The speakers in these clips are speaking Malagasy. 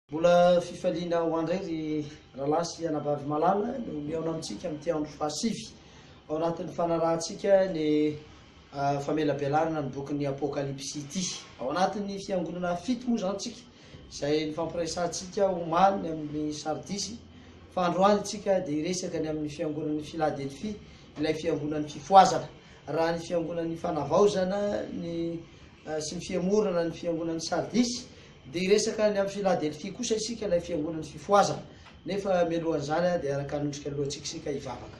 Mbola fifaliana ho an-dray ry rahalahy sy anabavy malala no mihaona amintsika amin'ity andro fahasivy ao anatin'ny fanarahantsika ny famelabelarana ny bokin'ny Apokalypsy ity. Ao anatin'ny fiangonana fito moa izany isika izay nifampiresahantsika omaly ny amin'ny Sardisy fa androany isika dia hiresaka ny amin'ny fiangonan'i Filadelfia ilay fiangonan'ny fifohazana. Raha ny fiangonan'ny Fanavaozana ny sy ny fihemorana ny fiangonan'i Sardisy, dia hiresaka ny amin'i Filadelfia kosa isika, ilay fiangonan'ny fifohazana. Nefa mialohan'izany dia araka ny endrika lohantsika isika hivavaka.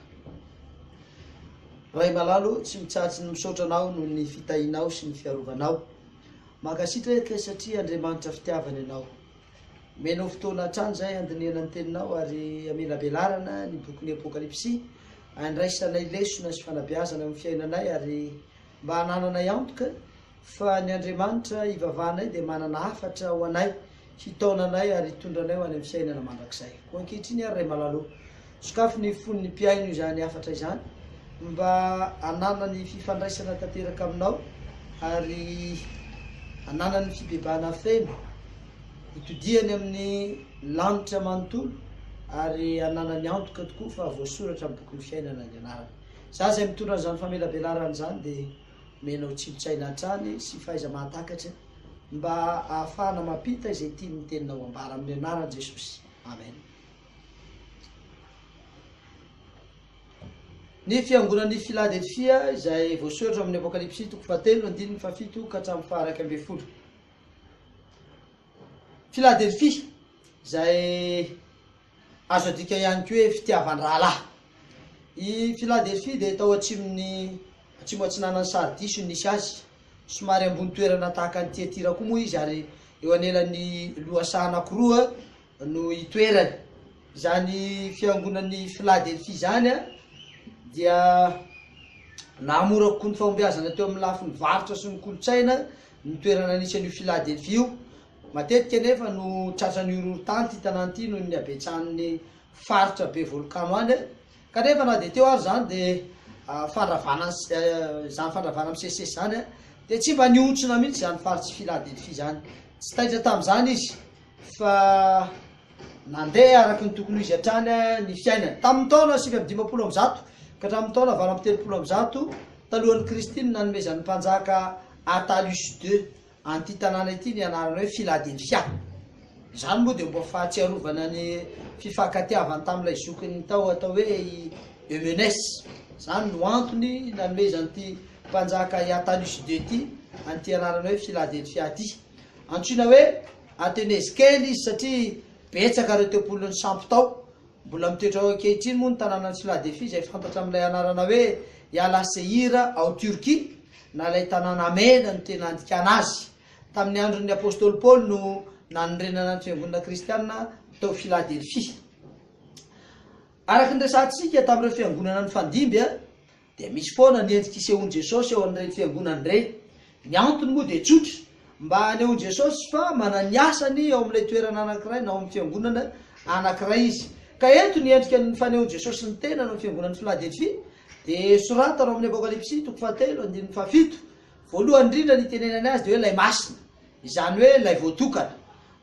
Ray malalo, tsy mitsahatra ny misaotra Anao noho ny fitahianao sy ny fiarovanao. Mankasitraka satria Andriamanitra fitiavana Ianao. Omenao fotoana hatrany izahay handinihana ny Teninao ary hamelabelarana ny bokin'ny Apokalypsy, handraisanay lesona sy fanabeazana amin'ny fiainanay ary mba hanananay antoka fa ny Andriamanitra ivavahanay dia manana hafatra ho anay, hitaona anay ary hitondra anay ho any amin'ny fiainana mandrakizay. Koa ankehitriny ary Ray Malala o. Sokafy ny fon'ny mpihaino izany hafatra izany mba hananany fifandraisana tanteraka aminao ary hananany fibebahana feno hitodiany amin'ny lanitra manontolo ary hananany antoka tokoa fa voasoratra amin'ny bokin'ny fiainana ny anarany. Izaho izay mitondra an'izany famelabelarana izany dia omena anao tsimpitsaina hatrany sy fahaiza-mahatakatra mba hahafahana mampita izay tian'ny teninao ambara amin'ny anaran'i Jesosy. Amen. Ny fiangonan'i Filadelfia izay voasoratra ao amin'ny Apokalypsy toko fahatelo andininy fahafito ka hatramin'ny faharaika ambin'ny folo. Filadelfia izay azo adika ihany koa hoe fitiavan-drahalahy. I Filadelfia dia tao atsimon'ny atsimo atsinanan'i Sardisy no nisy azy. Somary ambony toerana tahaka an'i Tiatira koa moa izy ary eo anelan'ny lohasaha anankiroa no itoerany. Izany fiangonan'i Filadelfia izany dia nahamora kokoa ny fahombiazana teo amin'ny lafiny varotra sy ny kolontsaina ny toerana anisan'io Filadelfia io. Matetika anefa no tratran'ny horohorontany ity tanàna ity noho ny habetsahan'ny faritra be volkano any, kanefa na dia teo ary izany dia fandravana izany fandravana misesisesy izany dia tsy mba nihontsona mihitsy izany faritr'i Filadelfia izany. Tsy taitra tamin'izany izy fa nandeha araka ny tokony ho izy hatrany ny fiainany. Tamin' ny taona sivy amby dimampolo amby zato ka hatramin' ny taona valo amby telopolo amby zato talohan' ny Kristy no nanomezan' ny mpanjaka Attalus ii an' ity tanàna ity ny anarana hoe Filadelfia. Izany moa dia ho mba fahatsiarovana ny fifankatiavany tamin' ilay zokiny tao atao hoe i Eumenes. Izany no antony nanomezan' ity mpanjaka i Attalus ii ity an' ity anarana hoe Filadelfia ity. Antsoina hoe Athenese kely izy satria betsaka ireo tempolin'ny sampy tao. Mbola mitoetra ao ankehitriny moa ny tanànan'i Sladefy izay fantatra amin'ilay anarana hoe Yalasehir ao Turquie, na ilay tanàna mena no tena andikana azy. Tamin'ny andron'ny apostoly Paoly no nanorenana ny fiangonana kristiana tao Filadelfia. Araka ny resahantsika tamin'ireo fiangonana nifandimby, Dia misy foana ny endrika isehoan'i Jesosy eo amin'ireny fiangonana ireny. Ny antony moa dia tsotra, mba hanehoan'i Jesosy fa manana ny asany eo amin'ilay toerana anankiray na ao amin'ny fiangonana anankiray izy. Ka eto ny endrika fanehoan'i Jesosy ny tenany eo amin'ny fiangonan'i Filadelfia dia soratana ao amin'ny Apokalypsy toko fahatelo andininy fahafito. Voalohany indrindra ny itenenany azy dia hoe ilay masina, izany hoe ilay voatokana.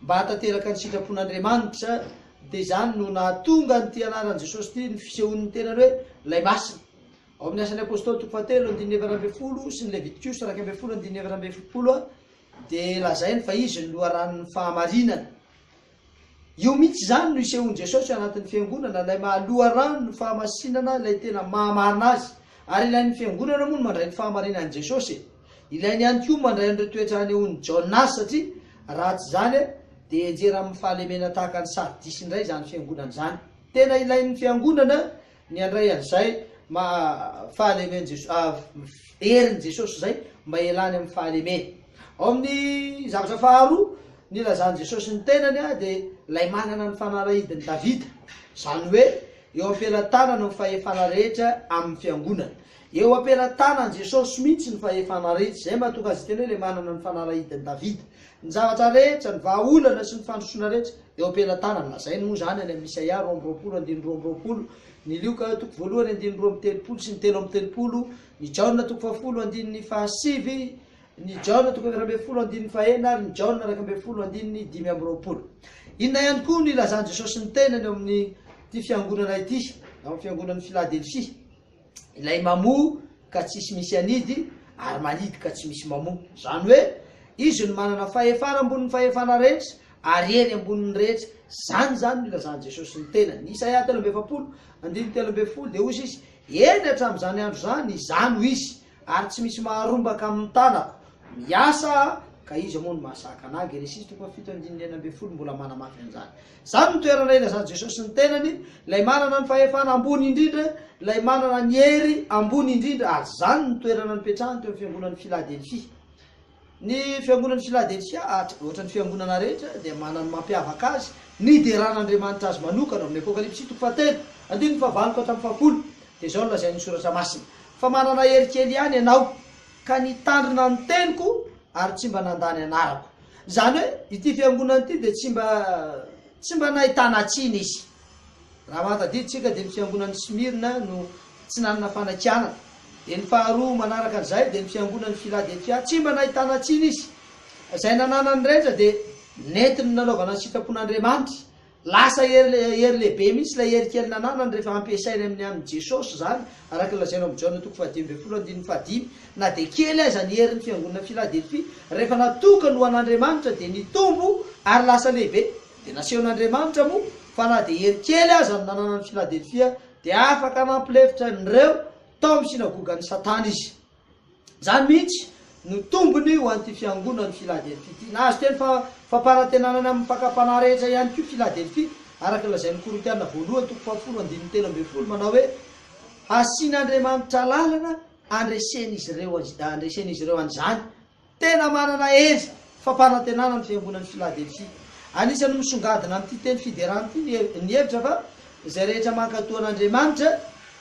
Mba hahatanteraka ny sitrapon'Andriamanitra dia izany no nahatonga an'ity anaran'i Jesosy ity ny fisehoan'ny tenany hoe Lay Masina. Ao amin'ny Asan'ny Apostoly toko fahatelo andininy efatra ambin'ny folo sy ny Levitikosa iraika ambin'ny folo andininy efatra ambin'ny folo dia lazainy fa Izy no loharanon'ny fahamarinana. Io mihitsy izany no isehoan'i Jesosy ao anatin'ny Fiangonana, Ilay maha loharanon'ny fahamasinana, Ilay tena maha marina azy. Ary ilain'ny Fiangonana moa ny mandray ny fahamarinan'i Jesosy e! Ilainy ihany koa mandray an'ireo toetra hanehoan'i Jonas satria raha tsy izany dia henjera amin'ny fahalemena tahaka ny Sardis indray izany fiangonana izany. Tena ilain'ny fiangonana ny handray an'izay maha fahalemen Jesosy herin'i Jesosy izay mba hialany amin'ny fahalemena. Ao amin'ny zavatra faharoa nilazan'i Jesosy ny tenany dia ilay manana ny fanalahidin'i Davida, izany hoe eo am-pelatanana ny fahefana rehetra amin'ny fiangonana. Eo ampelatanan'i Jesosy mihitsy ny fahefana rehetra, izay mahatonga azy tena hoe ilay manana ny fanalahidin'i Davida. Ny zavatra rehetra, ny vahaolana sy ny fandrosoana rehetra, eo ampelatanany. Lazainy moa izany any amin'ny Isaia roa amby roapolo andininy roa amby roapolo, ny Lioka toko voalohany andininy roa amby telopolo sy ny telo amby telopolo, ny Jaona toko fahafolo andininy fahasivy, ny Jaona toko efatra ambin'ny folo andininy fahenina ary ny Jaona iraika ambin'ny folo andininy dimy amby roapolo. Inona ihany koa no ilazan'i Jesosy ny tenany eo amin'ity fiangonana ity, ao amin'ny fiangonan'i Filadelfia? Ilay mamoa ka tsisy misy anidy ary manidy ka tsy misy mamoa. Izany hoe, Izy no manana fahefana ambonin'ny fahefana rehetra ary hery ambonin'ny rehetra. Izany izany no ilazan'i Jesosy ny tenany. Isaia telo amby efapolo, andininy telo ambin'ny folo dia hoy Izy, Eny, hatramin'izany andro izany, Izaho no izy, ary tsy misy maharombaka amin'ny tanako. Miasa aho, ka iza moa no mahasakana ahy? Genesisy toko fahafito andininy enina ambin'ny folo mbola manamafy an'izany. Izany no toerana ilazan'i Jesosy ny tenany, ilay manana ny fahefana ambony indrindra, ilay manana ny hery ambony indrindra, ary izany no toerana nipetrahany teo amin'ny fiangonan'i Filadelfia. Ny fiangonan'i Filadelfia, ohatra ny fiangonana rehetra, dia manana ny mampiavaka azy, nideran'Andriamanitra azy manokana, ao amin'ny Apokalypsy toko fahatelo, andininy fahavalo ka hatramin'ny fahafolo, dia izao no lazain'ny Soratra Masina, Fa manana hery kely ihany ianao, ka nitandrina ny teniko, ary tsy mba nandà ny anarako. Izany hoe ity fiangonana ity dia tsy mba tsy mba nahitana tsiny izy. Raha mahatadidy isika dia ny fiangonan'i Smyrna no tsy nanana fanakianana. Dia ny faharoa manaraka an'izay dia ny fiangonan'i Philadelphia, tsy mba nahitana tsiny izy. Izay nananany rehetra dia nentiny nanaovana ny sitrapon'Andriamanitra Lasa hery hery lehibe mihitsy ilay hery kely nananany rehefa hampiasainy amin'ny an'i Jesosy izany, araka ny lazaina ao amin'i Jaona toko fahadimy ambin'ny folo andininy fahadimy. Na dia kely aza ny herin'ny fiangonana Filadelfia, rehefa natokany ho an'Andriamanitra dia nitombo ary lasa lehibe. Dia nasehon'Andriamanitra moa fa na dia hery kely aza no nananan'i Filadelfia, dia afaka nampilefitra an'ireo tao amin'ny synagogan'i Satana izy. Izany mihitsy no tombony ho an'ity fiangonan'i Filadelfia ity. Nahazo teny fampanantenana any amin'ny fakam-panahy rehetra ihany koa i Filadelfia, araka ny lazain'ny Korintiana voalohany toko fahafolo andininy telo ambin'ny folo manao hoe, Hasian'Andriamanitra lalana handresen'izy ireo handresen'izy ireo an'izany. Tena manana hery fampanantenana ny fiangonan'i Filadelfia. Anisan'ny misongadina amin'ity teny fiderana ity ny hevitra fa izay rehetra mankatò an'Andriamanitra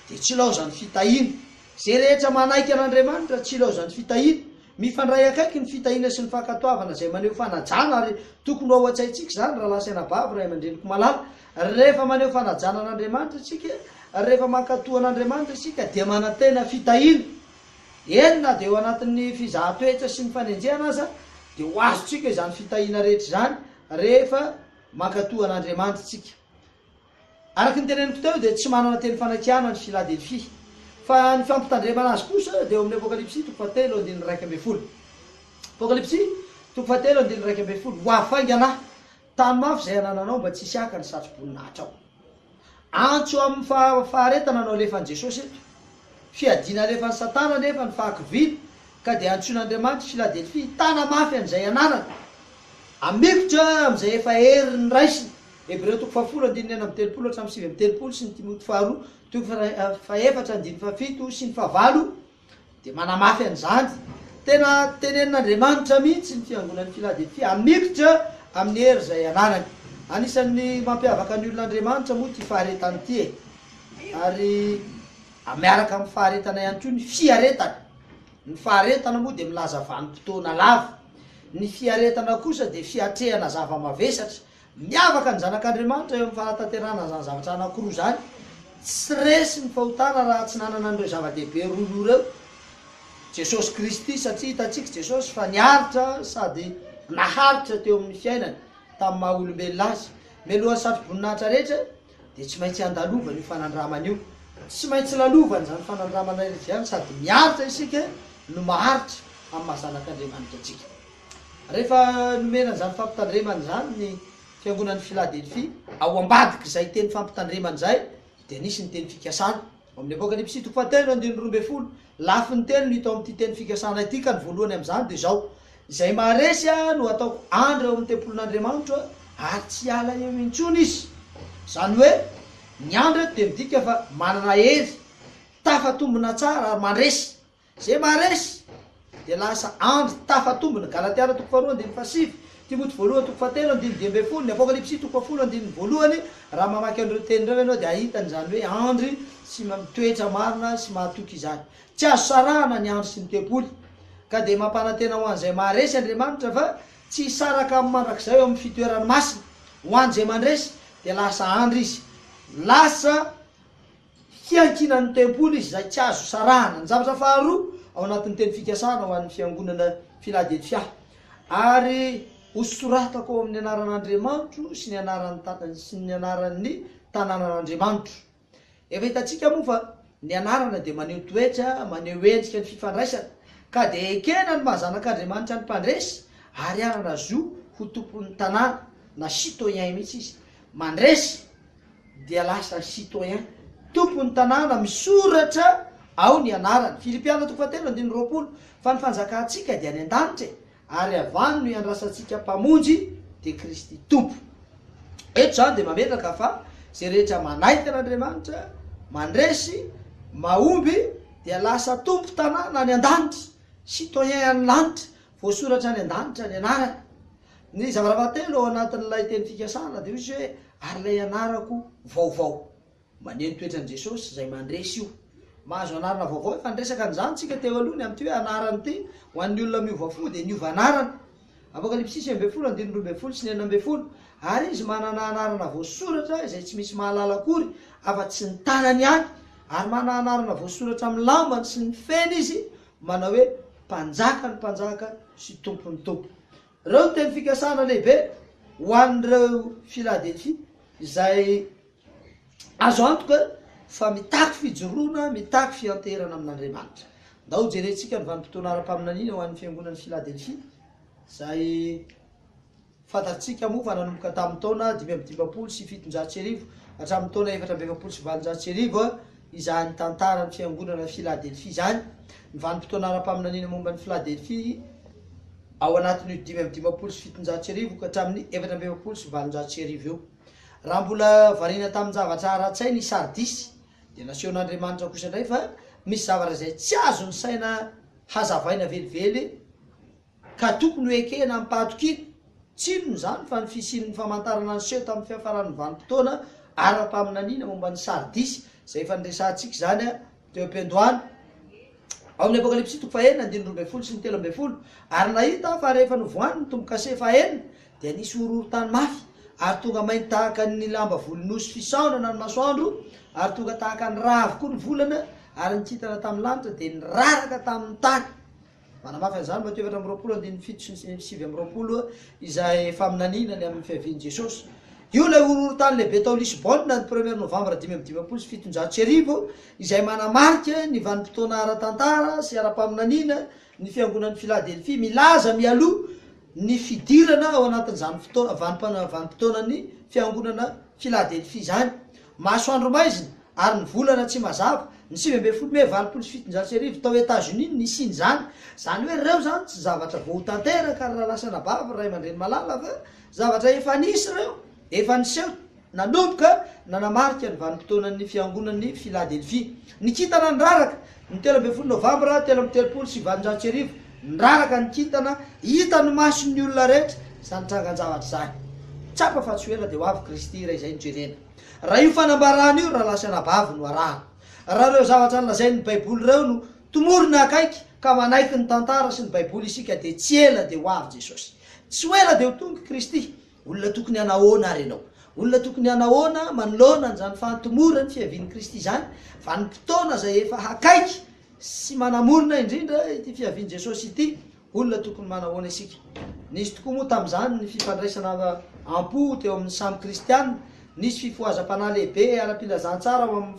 dia tsy ilaozany fitahiana. Izay rehetra manaiky an'Andriamanitra tsy ilaozan'ny fitahiana. Mifandray akaiky ny fitahiana sy ny fankatoavana izay maneho fanajana ary tokony ho ao an-tsaintsika izany rahalahy sy anabavy, ray aman-dreniko malala. Rehefa maneho fanajana an'Andriamanitra isika, rehefa mankatò an'Andriamanitra isika dia manantena fitahiana. Eny na dia eo anatin'ny fizahan-toetra sy ny fanenjehana aza dia ho azontsika izany fitahiana rehetra izany rehefa mankatò an'Andriamanitra isika. Araka ny teneniko teo dia tsy manana teny fanakiana ny Filadelfia. Fa ny fampitandremana azy kosa dia eo amin'ny Apokalypsy toko fahatelo andininy iraika ambin'ny folo. Apokalypsy toko fahatelo andininy iraika ambin'ny folo, Ho hafaingana tany mafy izay anananao mba tsy hisy haka ny satroboninahitra ao. Antso amin'ny faharetana no alefan'i Jesosy eto. Fiadiana alefan'i Satana anefa ny fahakiviana ka dia antsoin'Andriamanitra i Filadelfia hitana mafy an'izay ananany. Hamikotra amin'izay efa hery ny raisiny. Hebreo toko fahafolo andininy enina amby telopolo hatramin'ny sivy amby telopolo sy ny Timoty faharoa toko fahefatra andininy fahafito sy ny fahavalo dia manamafy an'izany. Tena tenenin'Andriamanitra mihitsy ny fiangonan'i Filadelfia hamikitra amin'ny hery izay ananany. Anisan'ny mampiavaka ny olon'Andriamanitra moa ity faharetana ity e. Ary miaraka amin'ny faharetana ihany koa ny fiaretana. Ny faharetana moa dia milaza vanim-potoana lava. Ny fiaretana kosa dia fiatrehana zava-mavesatra. Miavaka ny zanak'Andriamanitra eo amin'ny fanatanterahana izany zavatra anankiroa izany. Tsy resy ny fahotana raha tsy nanana an'ireo zava-dehibe roa loha ireo Jesosy Kristy, satria hitantsika Jesosy fa niaritra sady naharitra teo amin'ny fiainany tamin'ny maha olombelona azy. Mialohan'ny satroboninahitra rehetra dia tsy maintsy andalovany io fanandramana io. Tsy maintsy lalovany izany fanandramana rehetra izany sady miaritra isika no maharitra amin'ny maha zanak'Andriamanitra antsika. Rehefa nomena an'izany fampitandremana izany ny Fiangonan'i Filadelfia, ao ambadik'izay teny fampitandremana izay dia nisy ny teny fikasana. Ao amin'ny Apokalypsy toko fahatelo andininy roa ambin'ny folo, lafiny telo no hita ao amin'ity teny fikasana ity, ka ny voalohany amin'izany dia izao, Izay maharesy ahy no hataoko andry ao amin'ny tempolin'Andriamanitra, ary tsy hiala eo intsony izy. Izany hoe, ny andry eto dia midika fa manana hery, tafatombina tsara ary mandresy. Izay maharesy dia lasa andry tafatombo, ny Galatiana toko faharoa andininy fahasivy, Timoty voalohany toko fahatelo andininy dimy ambin'ny folo, ny Apokalypsy toko fahafolo andininy voalohany, raha mamaky an'ireo teny ireo ianao dia hahita an'izany hoe andry sy mitoetra marina sy mahatoky izany. Tsy azo sarahana ny andry sy ny tempoly. Ka dia mampanantena ho an'izay maharesy Andriamanitra fa tsy hisaraka aminy mandrakizay eo amin'ny fitoerany masina. Ho an'izay mandresy dia lasa andry izy. Lasa. fiankinan'ny tempoly izy izay tsy azo sarahana. Ny zavatra faharoa ao anatin'ny teny fikasana ho an'ny fiangonana Filadelfia ary hosoratako ao amin'ny anaran'Andriamanitro sy ny anaran'ny sy ny anaran'ny tanànan'Andriamanitro. Efa hitantsika moa fa ny anarana dia maneho toetra, maneho endrika ny fifandraisana, ka dia ekena ny maha zanak'Andriamanitra ny mpandresy ary hanana zo ho tompon'ny tanàna na citoyen mihitsy izy. Mandresy. dia lasa citoyen, tompon'ny tanàna, misoratra ao ny anarany. Filipiana toko fahatelo andininy roapolo, Fa ny fanjakantsika dia any an-danitra e, ary avy any no iandrasantsika Mpamonjy, dia Kristy Tompo. Eto izany dia mametraka fa izay rehetra manaiky an'Andriamanitra, mandresy, mahomby, dia lasa tompon-tanàna any an-danitra, citoyen any lanitra, voasoratra any an-danitra ny anarany. Ny zavatra telo ao anatin'ilay teny fikasana dia misy hoe, ary ilay anarako vaovao. Maneho ny toetran'i Jesosy izay mandresy io. Mahazo anarana vaovao efa niresaka an'izany isika teo aloha, ny amin'ity hoe anarana ity, ho an'ny olona miova fo dia niova anarana. Apokalypsy sivy ambin'ny folo andininy roa ambin'ny folo sy ny enina ambin'ny folo, Ary izy manana anarana voasoratra izay tsy misy mahalala akory afa-tsy ny tanany ihany, ary manana anarana voasoratra amin'ny lambany sy ny feny izy, manao hoe, Mpanjakan'ny mpanjaka sy Tompon'ny tompo. Ireo no teny fikasana lehibe ho an'ireo Filadelfia, izay azo antoka fa mitaky fijoroana, mitaky fianteherana amin'Andriamanitra. Andao hojerentsika ny vanim-potoana ara-paminaniana ho an'ny Fiangonan'i Filadelfia, izay Fantatsika moa fa nanomboka tamin'ny taona dimy amby dimampolo sy fitonjato sy arivo hatramin'ny taona efatra amby efapolo sy valonjato sy arivo izany tantaran'ny Fiangonana Filadelfia izany. Ny vanim-potoana ara-paminaniana momba an'i Filadelfia ao anatin'io dimy amby dimampolo sy fitonjato sy arivo ka hatramin'ny efatra amby efapolo sy valonjato sy arivo io. Raha mbola variana tamin-javatra ara-tsaina i Sardisy, dia nasehon'Andriamanitra kosa indray fa misy zavatra izay tsy azon'ny saina hazavaina velively, Ka tokony ho ekena amim-pahatokiana. Tsinona izany fa ny fisian'ny famantarana niseho tamin'ny fiafaran'ny vanim-potoana ara-paminaniana momba ny Sardisy, izay efa niresahantsika izany teo am-piandohana, ao amin'ny Apokalypsy toko fahenina andininy roa ambin'ny folo sy ny telo ambin'ny folo, ary nahita aho fa rehefa novohany ny tombo-kase fahenina, dia nisy horohorontany mafy, ary tonga mainty tahaka ny lamba volon'osy fisaonana ny masoandro, ary tonga tahaka ny rà avokoa ny volana, ary ny kintana tamin'ny lanitra dia niraraka tamin'ny tany. Manamafy an'izany Matio efatra amby roapolo andininy fito sy ny sivy amby roapolo izay faminaniana ny amin'ny fiavian'i Jesosy. Io ilay horohorontany lehibe tao Lisbona ny premier novambra dimy amby dimampolo sy fitonjato sy arivo izay manamarika ny vanim-potoana ara-tantara sy ara-paminaniana ny fiangonan'i Filadelfia milaza mialoha ny fidirana ao anatin'izany vanim-potoanan'ny fiangonana Filadelfia izany Masoandro maizina ary ny volana tsy mazava, ny sivy ambin'ny folo mey valopolo sy fitonjato sy arivo, tao Etazonia no nisian'izany. Izany hoe ireo izany tsy zavatra vao ho tanteraka ry Ralasanababy, ry Ray aman-dReny Malala fa zavatra efa nisy ireo, efa niseho nanomboka nanamarika ny vanim-potoanan'ny fiangonan'i Filadelfia. Ny kintana ny raraka Ny telo ambin'ny folo Novambra telo amby telopolo sy valonjato sy arivo, niraraka ny kintana, hitan'ny mason'ny olona rehetra izany trangan-javatra izany. Tsapa fa tsy ho ela dia ho avy Kristy iray izay no jerena. Raha io fanambarana io rahalahy sy anabavy no arahana, raha ireo zavatra nolazain'ny Baiboly ireo no tomorina akaiky ka manaiky ny tantara sy ny Baiboly isika dia tsy ela dia ho avy Jesosy. Tsy ho ela dia ho tonga Kristy. Olona tokony hanahoana ary ianao? Olona tokony hanahoana manoloana an'izany fahantomorany fiavian'i Kristy izany, vanim-potoana izay efa hakaiky sy manamorona indrindra ity fiavian'i Jesosy ity? Olona tokony manahoana isika? Nisy tokoa moa tamin'izany ny fifandraisana am-po teo amin'ny samy Kristiana? Nisy fifohazam-panahy lehibe ara-pilazantsara ao amin'ny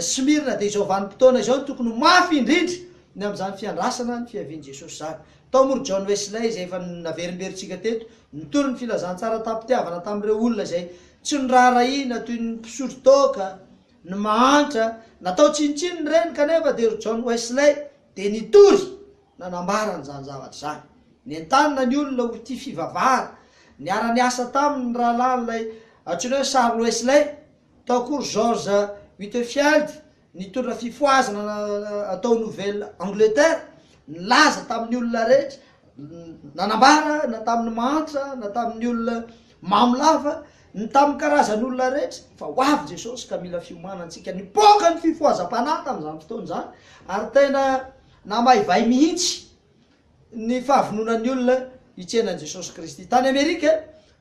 Smyrna, dia izao vanim-potoana izao no tokony ho mafy indrindra ny amin'izany fiandrasana ny fiavian'i Jesosy izany. Tao moa ry John Wesley, izay efa naverimberintsika teto, nitory ny filazantsara tamim-pitiavana tamin'ireo olona izay tsy noraharahiana toy ny mpisotro toaka, ny mahantra. Natao tsinontsinona ireny, kanefa dia ry John Wesley dia nitory nanambara an'izany zavatra izany. Nentanina ny olona ho tia fivavahana. Niara-niasa taminy ny rahalahin'ilay antsoina hoe Charles Wesley. Tao koa George Whitefield, nitondra fifohazana tao Nouvelle Angleterre, nilaza tamin'ny olona rehetra, nanambara na tamin'ny mahantra na tamin'ny olona mamo lava, ny tamin'ny karazan'olona rehetra, fa ho avy Jesosy ka mila fiomanana antsika. Nipoaka ny fifohazam-panahy tamin'izany fotoana izany, ary tena namaivay mihitsy Ny fahavononan'ny olona hitsena an'i Jesosy Kristy. Tany Amerika,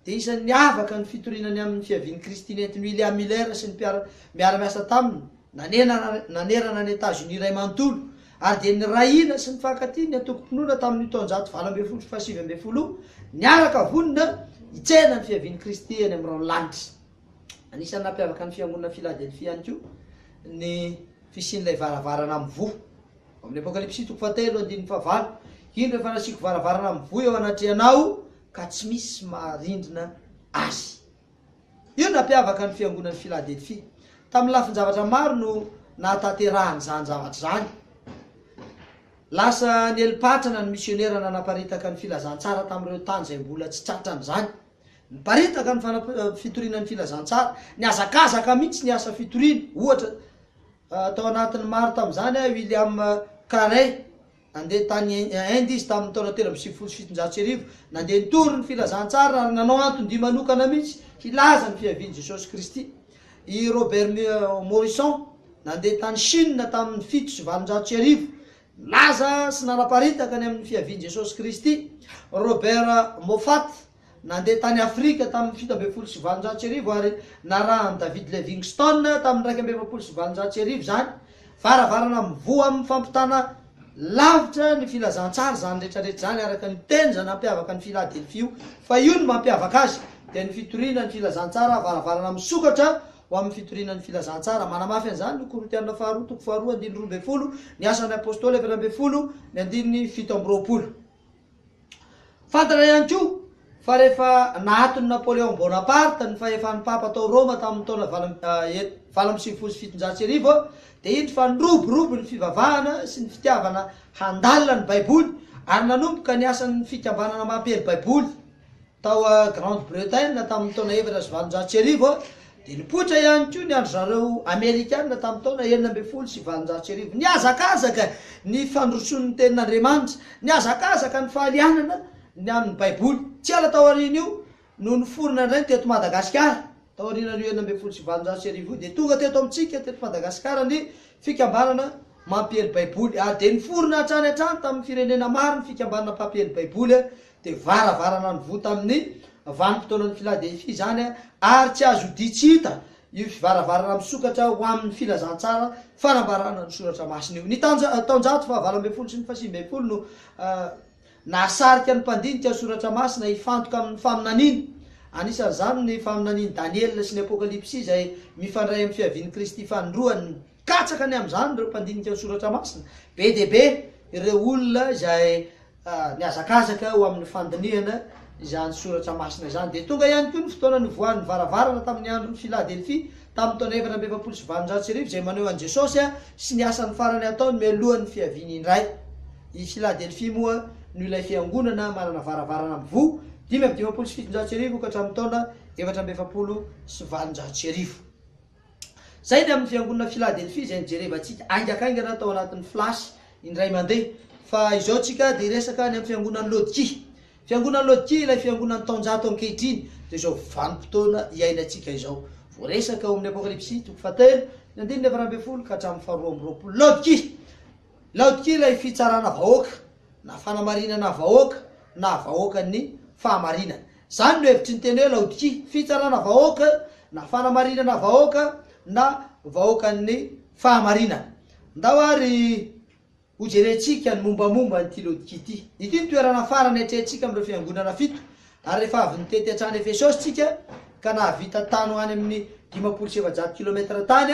dia isan'ny niavaka ny fitoriana ny amin'ny fiavian'i Kristy nentin'i William Miller sy ny mpiara miara-miasa taminy nanena nanerana an'i Etazonia iray manontolo, ary dia nirahina sy nifankatia ny antokom-pinoana tamin'io taonjato valo ambin'ny folo sy fahasivy ambin'ny folo io, niaraka vonona hitsena ny fiavian'i Kristy eny amin'ny rahon'ny lanitra. Anisan'ny nampiavaka ny Fiangonana Philadelphia ihany koa ny fisian'ilay varavarana mivoha. Ao amin'ny Apokalypsy toko fahatelo andininy fahavalo, Indro efa nasiako varavarana mivoy eo anatrehanao ka tsy misy maharindrina azy. Io no nampiavaka ny fiangonan'i Filadelfia. Tamin'ny lafin-javatra maro no nahatanterahany izany zavatra izany. Lasa nieli-patrana ny misionera nanaparitaka ny filazantsara tamin'ireo tany izay mbola tsy tratrany izany. Niparitaka ny fanam- fitoriana ny filazantsara. Nihazakazaka mihitsy ny asa fitoriana, ohatra, Tao anatin'ny maro tamin'izany i William Carey. Nandeha tany Inde izy tamin'ny taona telo amby sivifolo sy fitonjato sy arivo. Nandeha nitory ny Filazantsara ary nanao anton-dia manokana mihitsy hilaza ny fiavian'i Jesosy Kristy. I Robert Morrison nandeha tany Shina tamin'ny fito sy valonjato sy arivo. Nilaza sy nanaparitaka ny amin'ny fiavian'i Jesosy Kristy. Robert Moffat. Nandeha tany Afrika tamin' ny fito ambin'ny folo sy valonjato sy arivo ary narahan' i David Livingstone tamin' ny iraika amby efapolo sy valonjato sy arivo izany, varavarana mivoha amin' ny fampitana lavitra ny filazantsara izany rehetrarehetra izany araka ny teny izay nampiavaka an' i Filadelfia io fa io no mampiavaka azy dia ny fitoriana ny filazantsara varavarana misokatra ho amin' ny fitoriana ny filazantsara manamafy an' izany ny Korintiana Faharoa toko faharoa andininy roa ambin'ny folo Ny Asan' ny Apôstôly efatra ambin'ny folo ny andininy fito amby roapolo. Fantatra ihany koa fa rehefa naaton'i Napoléon Bonaparte ny fahefan'ny Papa tao Roma tamin'ny taona valo valo amby sivifolo sy fitonjato sy arivo dia indro fa niroborobo ny fivavahana sy ny fitiavana handalina ny Baiboly ary nanomboka ny asan'ny Fikambanana Mampely Baiboly Tao Grande-Bretagne tamin'ny taona efatra sy valonjato sy arivo, dia nipoitra ihany koa ny an-dry zareo Amerikana tamin'ny taona enina ambin'ny folo sy valonjato sy arivo. Nihazakazaka ny fandrosoan'ny Tenin'Andriamanitra. Nihazakazaka ny fahalianana ny amin'ny Baiboly. Tsy ela taorian'io no niforona indray ny teto Madagasikara. Taorianan'io enina ambin'ny folo sy valonjato sy arivo io, dia tonga teto amintsika teto Madagasikara ny Fikambanana Mampiely Baiboly, ary dia niforona hatrany hatrany tamin'ny firenena maro ny Fikambanana Mpampiely Baiboly dia varavarana nivoha tamin'ny vanim-potoanan'i Filadelfia izany, ary tsy azo odihy tsy hita io varavarana misokatra ho amin'ny filazantsara fanambarana ny Soratra Masina io. Ny taonjato fahavalo ambin'ny folo sy ny fahasivy ambin'ny folo no nahasarika ny mpandinika Soratra Masina hifantoka amin'ny faminaniany, anisan'izany ny faminanian'i Daniela sy ny Apokalypsy izay mifandray amin'ny fiavian'i Kristy fanindroany. Katsaka ny amin'izany ireo mpandinika ny soratra masina. Be dia be ireo olona izay nihazakazaka ho amin'ny fandinihana izany soratra masina izany. Dia tonga ihany koa ny fotoana nivoahan'ny varavarana tamin'ny andron'i Filadelfia tamin'ny taona efatra amby efapolo sy valonjato sy arivo, izay maneho an'i Jesosy sy ny asany farany ataony mialohan'ny fiaviany indray. I Filadelfia moa no ilay fiangonana manana varavarana mivoha, dimy amby dimampolo sy fitonjato sy arivo ka hatramin'ny taona efatra amby efapolo sy valonjato sy arivo. Izay ny amin'ny Fiangonana Philadelphia izay nijerevantsika haingakaingana tao anatin'ny flash indray mandeha. Fa izao tsika dia hiresaka any amin'ny Fiangonan'i Laodikia. Fiangonan'i Laodikia ilay Fiangonan'ny taonjato ankehitriny dia izao vanim-potoana iainantsika izao. Voaresaka ao amin'ny Apokalypsy toko fahatelo, ny andininy faharoa ambin'ny folo ka hatramin'ny faharoa amby roapolo. Laodikia! Laodikia ilay fitsarana vahoaka, na fanamarinana vahoaka, na vahoakan'ny fahamarinana. Izany no hevitry ny teny hoe Laodikia, fitsarana vahoaka, na fanamarinana vahoaka, na vahoakan'ny fahamarinana. Ndao ary hojerentsika ny mombamomba an'ity Laodikia ity. Ity no toerana farany atrehintsika amin'ireo fiangonana fito, ary rehefa avy nitety hatrany Efesosy isika, ka nahavita tany ho any amin'ny dimampolo sy efajato kilometatra tany,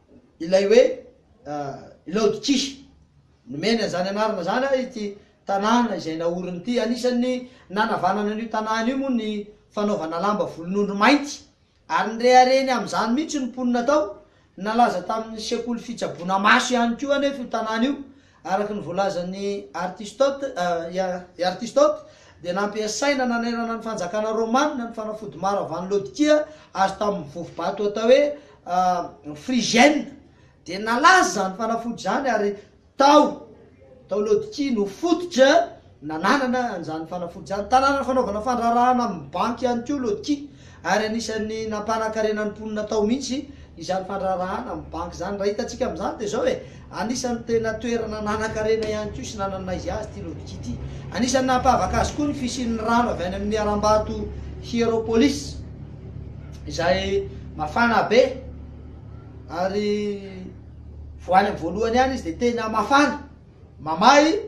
ilay hoe Laodikia. Nomeny an'izany anarana izany ary ity tanàna izay naoriny ity. Anisan'ny nanavanana an'io tanàna io moa ny fanaovana lamba volon'ondry mainty, ary nireharehany amin'izany mihitsy ny mponina tao. Nalaza tamin'ny sekoly fitsaboana maso ihany koa anefa io tanàna io, Araka ny voalazan'i Artistote, I Artistote dia nampiasaina nanerana ny fanjakana Romana ny fanafody maro avy any Laodikia azo tamin'ny vovo-bato atao hoe Phrygienne. Dia nalaza izany fanafody izany ary tao tao Laodikia no fototra Nananana an'izany fanafody izany tanàna fanaovana fandraharahana amin'ny banky ihany koa Lotki ary anisan'ny nampanakarena ny mponina tao mihitsy izany fandraharahana amin'ny banky izany. Raha hitantsika amin'izany dia izao e, anisan'ny tena toerana nanan-karena ihany koa sy nanana izy azy ity Lotki ity. Anisan'ny nampahavaka azy koa ny fisian'ny rano avy any amin'ny harambato Hierapolis izay mafana be ary vao any amin'ny voalohany ihany izy dia tena mafana. Mamahy,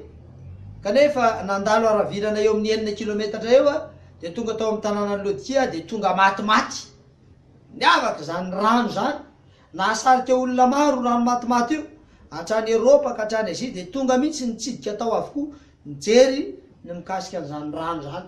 kanefa nandalo haravirana eo amin'ny enina kilometatra eo dia tonga tao amin'ny tanànan'i Lodikia dia tonga matimaty. Niavaka izany rano izany. Nahasarika olona maro io rano matimaty io. Hatrany Eropa ka hatrany Azia dia tonga mihitsy nitsidika tao avokoa nijery ny mikasika an'izany rano izany.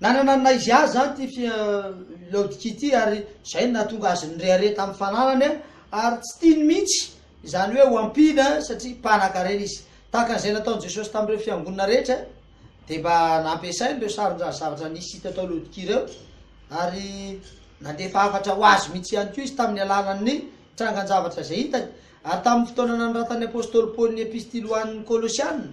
Nanana ny naizy azy izany ity Laodikia ity ary izay no nahatonga azy nirehareha tamin'ny fananany ary tsy tiany mihitsy izany hoe ho ampiana satria mpanankarena izy. Tahaka an'izay nataon'i Jesosy tamin'ireo fiangonana rehetra dia mba nampiasainy ireo sarin'ireo zavatra nisy hita tao Laodikia ireo ary nandefa hafatra ho azy mihitsy ihany koa izy tamin'ny alalan'ny trangan-javatra izay hitany. Ary tamin'ny fotoana nanoratan'ny apostoly Paoly ny epistily ho an'ny Kolosiana,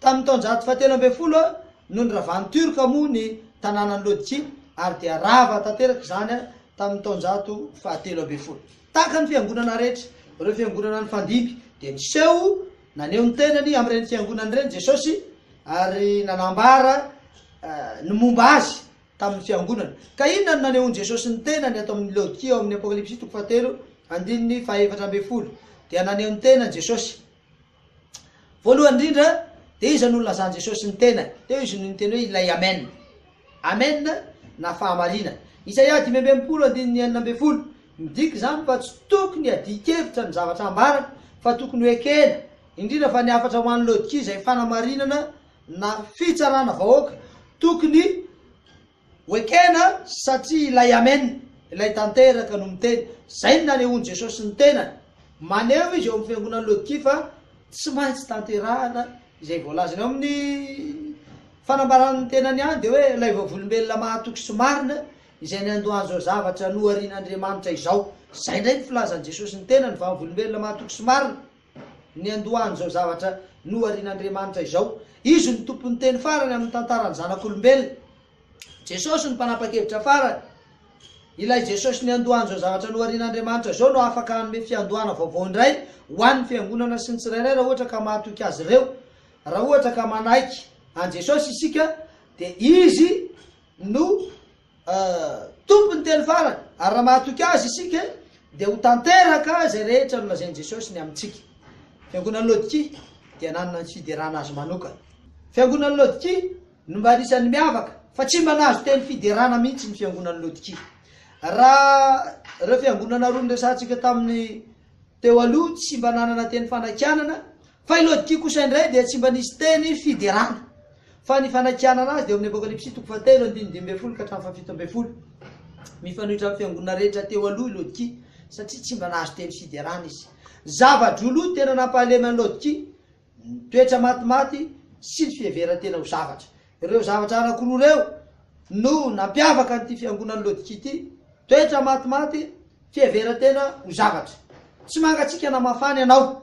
Tamin'ny taonjato fahatelo ambin'ny folo no niravan'ny Tiorka moa ny tanànan'i Lodki ary dia rava tanteraka izany tamin'ny taonjato fahatelo ambin'ny folo. Tahaka ny fiangonana rehetra, ireo fiangonana nifandimby dia niseho naneho ny tenany amin'ireny fiangonana ireny Jesosy ary nanambara ny momba Azy tamin'ny fiangonana. Ka inona no nanehoan'i Jesosy ny tenany ato amin'i Lodki ao amin'ny Apokalypsy toko fahatelo andininy fahaefatra ambin'ny folo? Dia naneho ny tenany Jesosy. Voalohany indrindra, dia iza no nilazan'i Jesosy ny tenany? Teo izy no niteny hoe ilay Amen. Amen na fahamariana. Isaia dimy amby enimpolo andininy enina ambin'ny folo. Midika izany fa tsy tokony hadian-kevitra ny zavatra ambarany, fa tokony ho ekena, indrindra fa ny hafatra ho an'i Laodikia izay fanamarinana na fitsarana vahoaka tokony Ho ekena satria ilay Amen, ilay tanteraka no miteny. Izay no nanehoan'i Jesosy ny tenany. Maneho izy eo amin'ny fiangonan'i Laodikia fa tsy maintsy tanterahana izay voalazany. Ao amin'ny fanambarany ny tenany ihany dia hoe ilay vavolombelona mahatoky sy marina izay niandohany izao zavatra noharian'Andriamanitra izao. Izay indray ny filazan'i Jesosy ny tenany, vavolombelona mahatoky sy marina. Niandohany izao zavatra noharian'Andriamanitra izao. Izy no Tompon'ny teny farany amin'ny tantaran'ny zanak'olombelona. Jesosy no mpanapa-kevitra farany. Ilay Jesosy niandohany izao zavatra noharian'Andriamanitra izao no afaka hanome fiandohana vaovao indray ho an'ny Fiangonana sy ny tsirairay raha ohatra ka mahatoky azy ireo. Raha ohatra ka manaiky an'i Jesosy isika dia Izy no Tompo ny teny farany, ary raha mahatoky Azy isika, dia ho tanteraka izay rehetra nolazain'i Jesosy ny amintsika. Fiangonan'i Laodikia dia nanana ny fiderana azy manokana. Fiangonan'i Laodikia no mba anisan'ny miavaka, fa tsy mba nahazo teny fiderana mihitsy ny Fiangonan'i Laodikia. Raha ireo fiangonana roa noresahantsika tamin'ny teo aloha tsy mba nanana teny fanakianana, Fa i Lodikia kosa indray dia tsy mba nisy teny fiderana, fa ny fanakianana azy dia ao amin'ny Apokalypsy toko fahatelo andininy dimy ambin'ny folo ka hatramin'ny fahafito ambin'ny folo. Mifanohitra amin'ny fiangonana rehetra teo aloha i Lodikia, satria tsy mba nahazo teny fiderana izy. Zava-droloha tena nampahalemy an'i Lodikia ny toetra matimaty sy ny fiheveran-tena ho zavatra. Ireo zavatra anankiroa ireo no nampiavaka an'ity fiangonan'i Lodikia ity, toetra matimaty, fiheveran-tena ho zavatra. Tsy mangatsiaka na mafana ianao.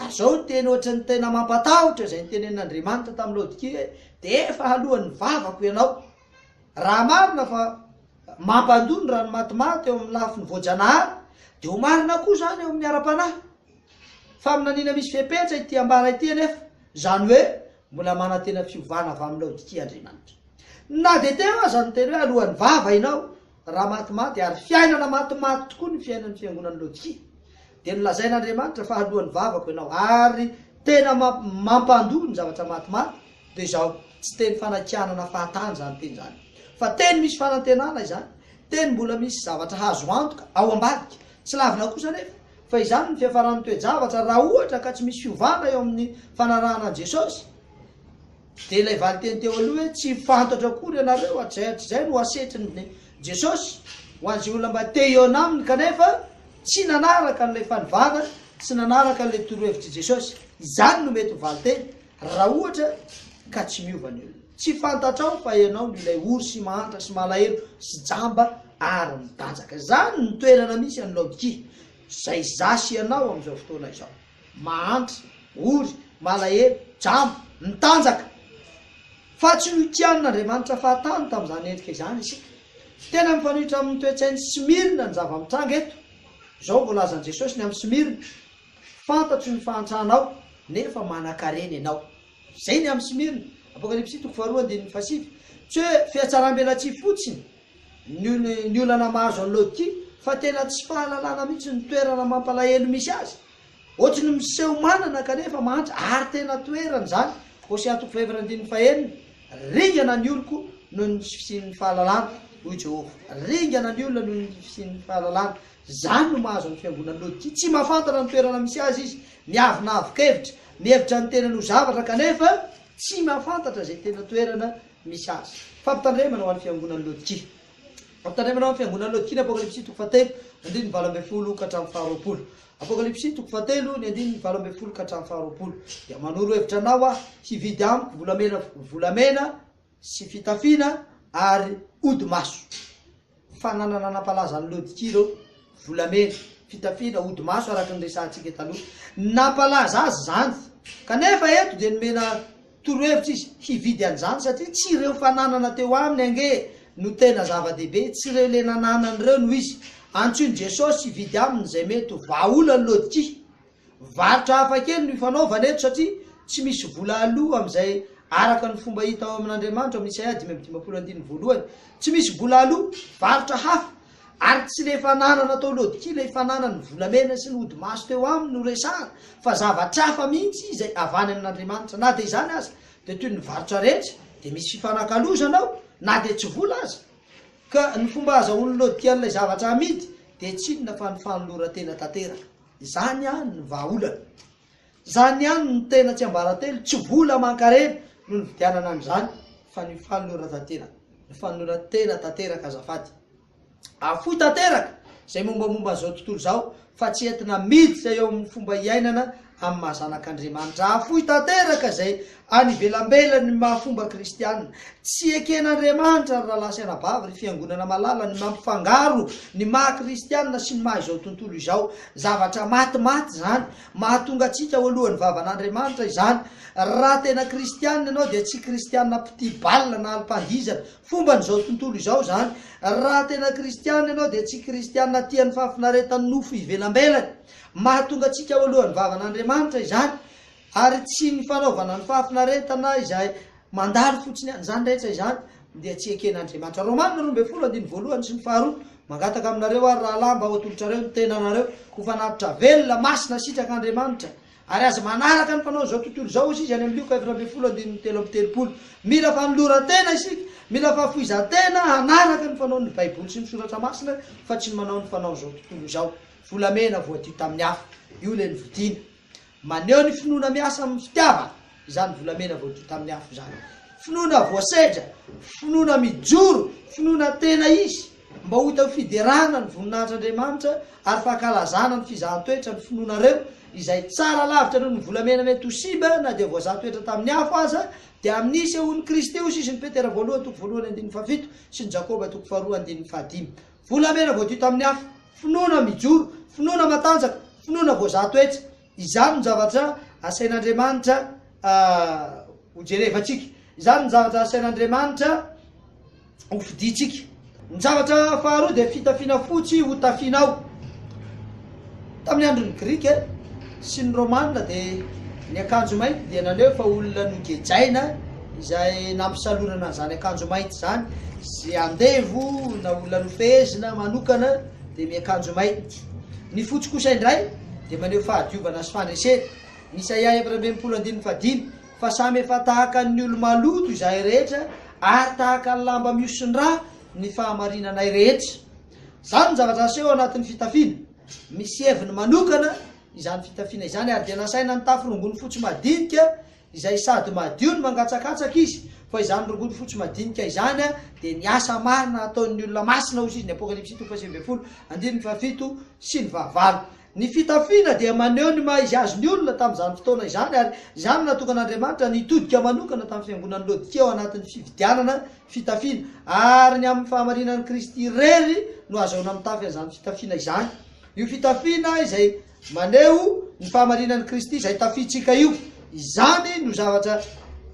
Ary izao teny ohatra ny tena mampatahotra izay notenenin'Andriamanitra tamin'i Laodikia hoe, Dia efa haloan'ny vavako ianao. Raha marina fa mampandoa ny ranomatomati eo amin'ny lafiny voajanahary, dia ho marina koa izany eo amin'ny ara-panahy. Faminaniana misy fepetra ity ambara ity anefa, izany hoe mbola manantena fiovana avy amin'i Laodikia Andriamanitra. Na dia teo aza ny teny hoe aloan'ny vava ianao, raha matimaty, ary fiainana matimaty tokoa ny fiainan'ny fiangonan'i Laodikia. Dia nolazain'Andriamanitra fa haloan'ny vavako ianao. Ary tena mampandoa ny zavatra matimaty dia izao, tsy teny fanakianana fahatany izany teny izany, fa teny misy fanantenana izany, teny mbola misy zavatra hazo antoka ao ambadika. Tsy lavina kosa anefa fa izany ny fiafaran'ny toe-javatra raha ohatra ka tsy misy fiovana eo amin'ny fanarahana an'i Jesosy. Dia ilay valinteny teo aloha hoe tsy fantatro akory ianareo hatrizay hatrizay no asetrin'ny Jesosy ho an'izay olona mba te hihaona aminy kanefa tsy nanaraka an'ilay fanovana sy nanaraka an'ilay torohevitr'i Jesosy. Izany no mety ho valinteny raha ohatra ka tsy miova ny olona. Tsy fantatrao fa ianao no ilay ory sy mahantra sy malahelo sy jamba ary mitanjaka. Izany no toerana misy an'i Laodikia, izay izaho sy ianao amin'izao fotoana izao. mahantra, ory, malahelo, jamba, mitanjaka. Fa tsy notianin'Andriamanitra fahatany tamin'izany endrika izany isika. Tena mifanohitra amin'ny toe-tsain'i Smirna ny zava-mitranga eto. Izao voalazan'i Jesosy ny amin'i Smirna, Fantatro ny fahantranao, nefa manankarena ianao. Izay ny amin'i Smirna. Apokalypsy toko faharoa andininy fahasivy. Tsy hoe fihatsaram-belatsihy fotsiny Ny olana mahazo an'i Laodikia fa tena tsy fahalalana mihitsy ny toerana mampalahelo misy azy. Ohatry ny miseho manana kanefa mahantra ary tena toerany izany, Hosea toko fahefatra andininy fahenina, Ringana ny oloko noho ny tsy fisian'ny fahalalana, hoy i Jehovah. Ringana ny olona noho ny fisian'ny fahalalana. Izany no mahazo ny fiangonan'i Laodikia. Tsy mahafantatra ny toerana misy azy izy. Miavonavon-kevitra. Mihevitra ny tenany ho zavatra kanefa tsy mahafantatra izay tena toerana misy azy. Fampitandremana ho an'ny fiangonan'i Laodikia. Fampitandremana ho an'ny fiangonan'i Laodikia ny Apokalypsy toko fahatelo, ny andininy valo ambin'ny folo ka hatramin'ny faharoapolo. Apokalypsy toko fahatelo, ny andininy valo ambin'ny folo ka hatramin'ny faharoapolo dia manoro hevitra anao aho hividy amiko volamena, volamena sy fitafiana ary odi-maso. Fananana nampalaza an'i Laodikia ireo, volamena, fitafiana, hodi-maso araka ny resahantsika taloha. Nampalaza azy izany. Kanefa eto dia nomena torohevitra izy hividy an'izany satria tsy ireo fananana teo aminy ange no tena zava-dehibe, tsy ireo le nananany ireo no izy. Antsoin'i Jesosy hividy aminy izay mety ho vahaolan'i Laodikia. Varotra hafakely no ifanaovana eto satria tsy misy vola aloa amin'izay araka ny fomba hita ao amin'Andriamanitro amin'ny Isaia dimy amby dimampolo andininy voalohany. Tsy misy vola aloa, varotra hafa, ary tsy ilay fananana tao Lodkia, ilay fananan'ny volamena sy ny hodimaso teo aminy no resahana fa zavatra hafa mihitsy izay avany amin'Andriamanitra. Na dia izany aza dia toy ny varotra rehetra dia misy fifanakalozana ao na dia tsy vola aza. Ka ny fomba azahoan'ny Lodkian'ilay zavatra amidy dia tsy inona fa ny fanoloran-tena tanteraka. Izany ihany no vahaolana. Izany ihany no tena tsiambaratelo, tsy vola aman-karena no nividianana an'izany fa ny fanoloran-tantena. Ny fanoloran-tena tanteraka azafady. Afoy tanteraka izay mombamomba an'izao tontolo izao fa tsy entina miditra eo amin'ny fomba iainana amin'ny maha zanak'Andriamanitra. Afoy tanteraka izay Any ivelambela ny maha fomba kristiana. Tsy eken'Andriamanitra ry rahalahy sy anabavy ry fiangonana malala ny mampifangaro ny maha kristiana sy ny maha izao tontolo izao. Zavatra maty maty izany. Mahatonga antsika ho alohan'ny vavan'Andriamanitra izany. Raha tena kristiana ianao dia tsy kristiana mpitia bal na alim-pandihizana. Fomban'izao tontolo izao izany. Raha tena kristiana ianao dia tsy kristiana tia ny fahafinaretan'ny nofo ivelambelany. Mahatonga antsika ho alohan'ny vavan'Andriamanitra izany. Ary tsy ny fanaovana ny fahafinaretana izay mandalo fotsiny ihany, izany rehetra izany dia tsy eken'Andriamanitra. Romana roa ambin'ny folo andininy voalohany sy ny faharoa, Mangataka aminareo àry, rahalahy, mba ho atolotrareo ny tenanareo ho fanatitra velona, masina, sitrak'Andriamanitra, ary aza manaraka ny fanaon'izao tontolo izao, hoy izy any amin'ny Lioka efatra ambin'ny folo andininy telo amby telopolo. Mila fanoloran-tena isika, mila fahafoizan-tena hanaraka ny fanaon'ny Baiboly sy ny Soratra Masina, fa tsy ny manao ny fanaon'izao tontolo izao. Volamena voadio tamin'ny afo, io ilay novidiana. Maneho ny finoana miasa amin'ny fitiavana izany volamena voadio tamin'ny afo izany. Finoana voasedra, finoana mijoro, finoana tena izy, mba ho hita ho fiderana ny voninahitr'Andriamanitra ary fankalazana ny fizahan-toetra ny finoanareo izay tsara lavitra noho ny volamena mety ho simba na dia voazaha toetra tamin'ny afo aza, dia amin'i sehoan'i Kristy io sisin'i Petera voalohany toko voalohany andininy fahafito sy ny Jakoba toko faharoa andininy fahadimy. Volamena voadio tamin'ny afo, finoana mijoro, finoana matanjaka, finoana voazaha toetra. Izany no zavatra asain'Andriamanitra hojerevantsika. Izany no zavatra asain'Andriamanitra hofidintsika. Ny zavatra faharoa dia fitafiana fotsy hotafianao. Tamin'ny andron'ny Grika sy ny Romana dia ny akanjo mainty dia naneho fa olona nogejaina izay nampisalorana an'izany akanjo mainty izany, izay andevo na olona nofehezina manokana dia miakanjo mainty. Ny fotsy kosa indray dia maneho fahadiovana sy fandresena. Ny Isaia efatra ambin'ny folo andininy fahadimy, Fa samy efa tahaka ny olo-maloto izahay rehetra, ary tahaka ny lamba mihosin-drà ny fahamarinanay rehetra. Izany no zavatra aseho ao anatin'ny fitafiana. Misy heviny manokana izany fitafiana izany ary dia nasaina nitafy rongony fotsy madinika izay sady madio no mangatsakatsaka izy, fa izany rongony fotsy madinika izany dia ny asa marina ataon'ny olona masina, hoy izy, ny Apokalypsy toko fahasivy ambin'ny folo, andininy fahafito sy ny fahavalo. Ny fitafiana dia maneho ny maha izy azy ny olona tamin'izany fotoana izany ary izany no natokan'Andriamanitra ny hitodika manokana tamin'ny fiangonan'i Laodikia ao anatin'ny fividianana fitafiana ary ny amin'ny fahamarinan'i Kristy irery no ahazoana mitafy an'izany fitafiana izany. Io fitafiana izay maneho ny fahamarinan'i Kristy izay tafiantsika io, izany no zavatra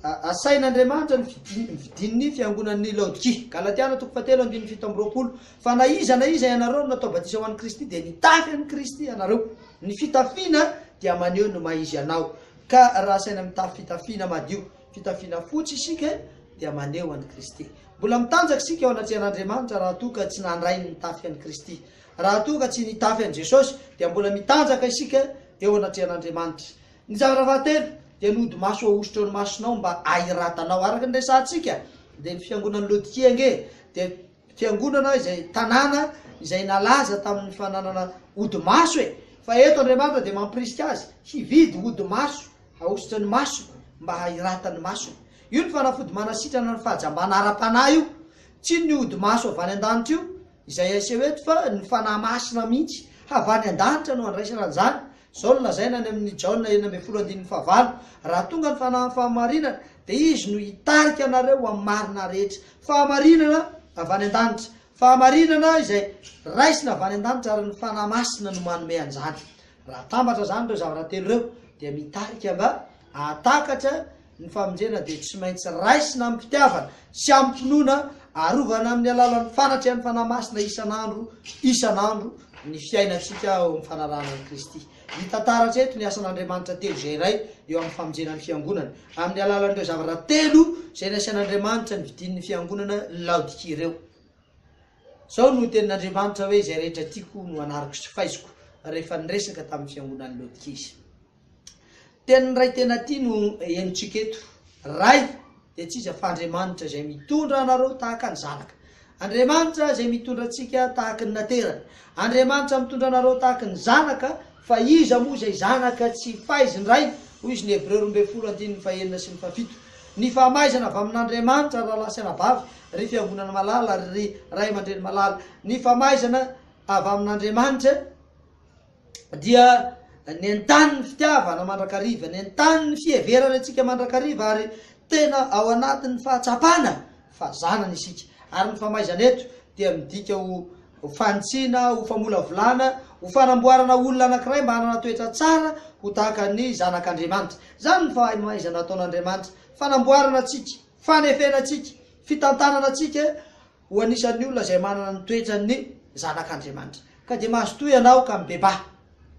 asain'Andriamanitra ny fidin'ny fiangonan'i Laodikia. Galatiana toko fahatelo andininy fito amby roapolo. fa na iza na iza ianareo no natao batisa ho an'i Kristy dia nitafy an'i Kristy ianareo. Ny fitafiana dia maneho ny maha izy anao. Ka raha asaina mitafy fitafiana madio, fitafiana fotsy isika dia maneho an'i Kristy. Mbola mitanjaka isika eo anatrehan'Andriamanitra raha toa ka tsy nandray ny nitafy an'i Kristy. Raha toa ka tsy nitafy an'i Jesosy dia mbola mitanjaka isika eo anatrehan'Andriamanitra. Ny zavatra fahatelo dia ny hodi-maso ahosotro ny masonao mba ahiratanao. Araka ny resahantsika dia ny fiangonan'i Laodikia ange dia. Fiangonana izay tanàna izay nalaza tamin'ny fananana ody maso e! Fa eto Andriamanitra dia mampirisika azy hividy ody maso hahosotra ny masony mba hahirata ny masony. Io ny fanafody manasitrana ny fahajambana ara-panahy io. Tsy ny ody maso avy any an-danitra io izay aseho eto fa ny Fanahy Masina mihitsy havany an-danitra no andraisana an'izany Izao no lazaina any amin'ny Jaona enina ambin'ny folo andininy fahavalo, Raha tonga ny fanahin'ny fahamarinana, dia Izy no hitarika anareo ho amin'ny marina rehetra. Fahamarinana avy any an-danitra. Fahamarinana izay raisina avy any an-danitra ary ny Fanahy Masina no manome an'izany. Raha atambatra izany ireo zavatra telo ireo dia mitarika nga Hahatakatra ny famonjena dia tsy maintsy raisina amim-pitiavana sy amim-pinoana, arovana amin'ny alalan'ny fanatrehan'ny Fanahy Masina isan'andro isan'andro ny fiainantsika eo amin'ny fanarahana an'i Kristy. Hita taratra eto ny asan'Andriamanitra telo izay iray eo amin'ny famonjena ny Fiangonana, amin'ny alalan'ireo zavatra telo izay nasian'Andriamanitra nividian'ny Fiangonana Laodikia ireo. Izao no tenin'Andriamanitra hoe, Izay rehetra tiako no anariko sy faiziko, rehefa niresaka tamin'ny Fiangonan'i Laodikia Izy. Tenin'ny Ray tena tia no henontsika eto. Ray dia tsy iza fa Andriamanitra izay mitondra anareo tahaka ny zanaka. Andriamanitra izay mitondra antsika tahaka ny naterany. Andriamanitra mitondra anareo tahaka ny zanaka, fa iza moa izay zanaka tsy faizin Ray? hoy izy ny Hebreo roa ambin'ny folo andininy fahenina sy ny fahafito. Ny fahamaizana avy amin'Andriamanitra rahalahy sy anabavy, ry fiangonana malala, ry ray aman-dreny malala. Ny famaizana avy amin'Andriamanitra. dia nentany ny fitiavana mandrakariva, nentany ny fiheverana antsika mandrakariva ary tena ao anatin'ny fahatsapana fa zanany isika. Ary ny famaizana eto dia midika ho fanitsiana, ho famolavolana, ho fanamboarana olona anankiray mba hanana toetra tsara ho tahaka ny zanak'Andriamanitra. Izany ny fahamaizana ataon'Andriamanitra, fanamboarana antsika, fanefena antsika, fitantanana antsika, ho anisan'ny olona izay manana ny toetran'ny zanak'Andriamanitra. Ka dia mazotoa ianao ka mibebaha.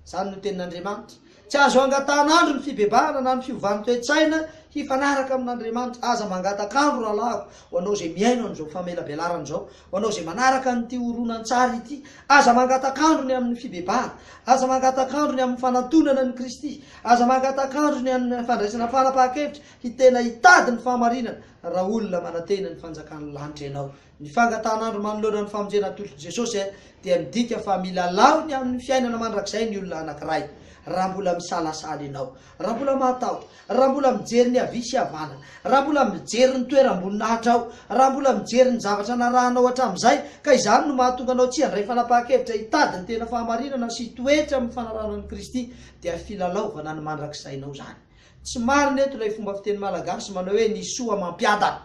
Izany no tenin'Andriamanitra. Tsy azo angatahan'andro ny fibebahana na ny fiovan'ny toe-tsaina hifanaraka amin'Andriamanitra. Aza mangatak'andro rahalahiko, ho anao izay mihaino an'izao famelabelarana izao, ho anao izay manaraka an'ity horonantsary ity. Aza mangatak'andro ny amin'ny fibebahana. Aza mangatak'andro ny amin'ny fanantonana an'i Kristy. Aza mangatak'andro ny amin'ny fandraisana fanapahan-kevitra hitena hitady ny fahamarinana. Raha olona manantena ny fanjakan'ny lanitra ianao, ny fangatahan'andro manoloana ny famonjena atolotr'i Jesosy dia midika fa milalao ny amin'ny fiainana mandrakizay ny olona anankiray. Raha mbola misalasala ianao, raha mbola mahatahotra, raha mbola mijery ny havia sy havanana, raha mbola mijery ny toeram-boninahitrao, raha mbola mijery ny zavatra narahanao hatramin'izay, ka izany no mahatonga anao tsy handray fanapahan-kevitra hitady ny tena fahamarinana sy hitoetra amin'ny fanarahana an'i Kristy, dia filalaovana ny mandrakizainao izany. Tsy marina eto ilay fomba fiteny malagasy manao hoe ny soa mampiadana.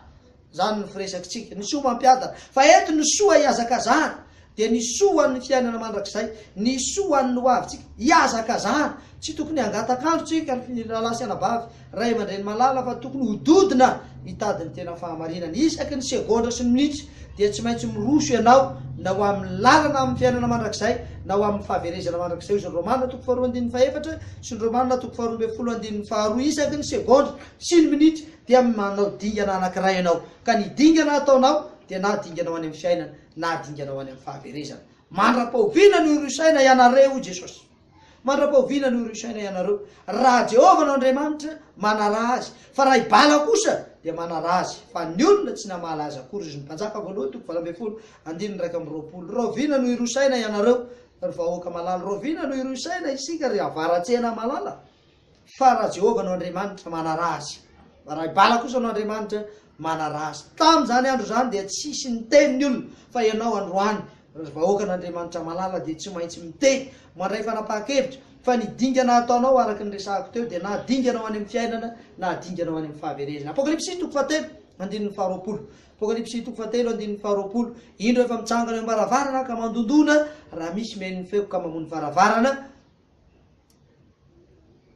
Izany no firesakitsika. Ny soa mampiadana. Fa eto ny soa ihazakazahana dia ny soa ho an'ny fiainana mandrakizay, ny soa ho an'ny hoavintsika. Ihazakazahana. Tsy tokony hangatak'andro tsika, ry rahalahy sy anabavy, ray aman-dreny malala, fa tokony hododona hitady ny tena fahamarinana, isaky ny segondra sy ny minitra. dia tsy maintsy miroso ianao na ho amin'ny lalana amin'ny fiainana mandrakizay na ho amin'ny fahaverezana mandrakizay, hoy izany Romana toko faharoa andininy fahefatra sy ny Romana toko faharoa ambin'ny folo andininy faharoa, isaky ny segondra sy ny minitra dia manao dingana anankiray ianao, ka ny dingana ataonao dia na dingana ho any amin'ny fiainana na dingana ho any amin'ny fahaverezana. Mandra-pahoviana no hirosaina ianareo, hoy Jesosy? Mandra-pao vina ny horisaina ianareo? Raha Jehovah no Andriamanitra, manaraha azy, fa raha i Bala kosa, dia manaraha azy, fa ny olona tsy namaly azy akory izy. Mpanjaka Voalohany toko valo ambin'ny folo, andininy iraika amby roapolo. Rahoviana no hirosaina ianareo, ry vahoaka malala? Rahoviana no hirosaina isika, ry avaratsena malala? Fa raha Jehovah no Andriamanitra, manaraha Azy. Fa raha i Bala kosa no andriamanitra, manaraha Azy. Tamin' izany andro izany dia tsisy niteny ny olona, fa ianao androany, ry vahoakan' Andriamanitra malala, dia tsy maintsy miteny, mandray fanapahan-kevitra, fa ny dingana ataonao, araka ny resahako teo, dia na dingana ho any amin' ny fiainana, na dingana ho any amin' ny fahaverezana. Apokalypsy toko fahatelo, andininy faharoapolo. Apokalypsy toko fahatelo, andininy faharoapolo. Indro, efa mitsangana eo am-baravarana, ka mandondona, raha misy mihaino ny feoko ka mamoha ny varavarana,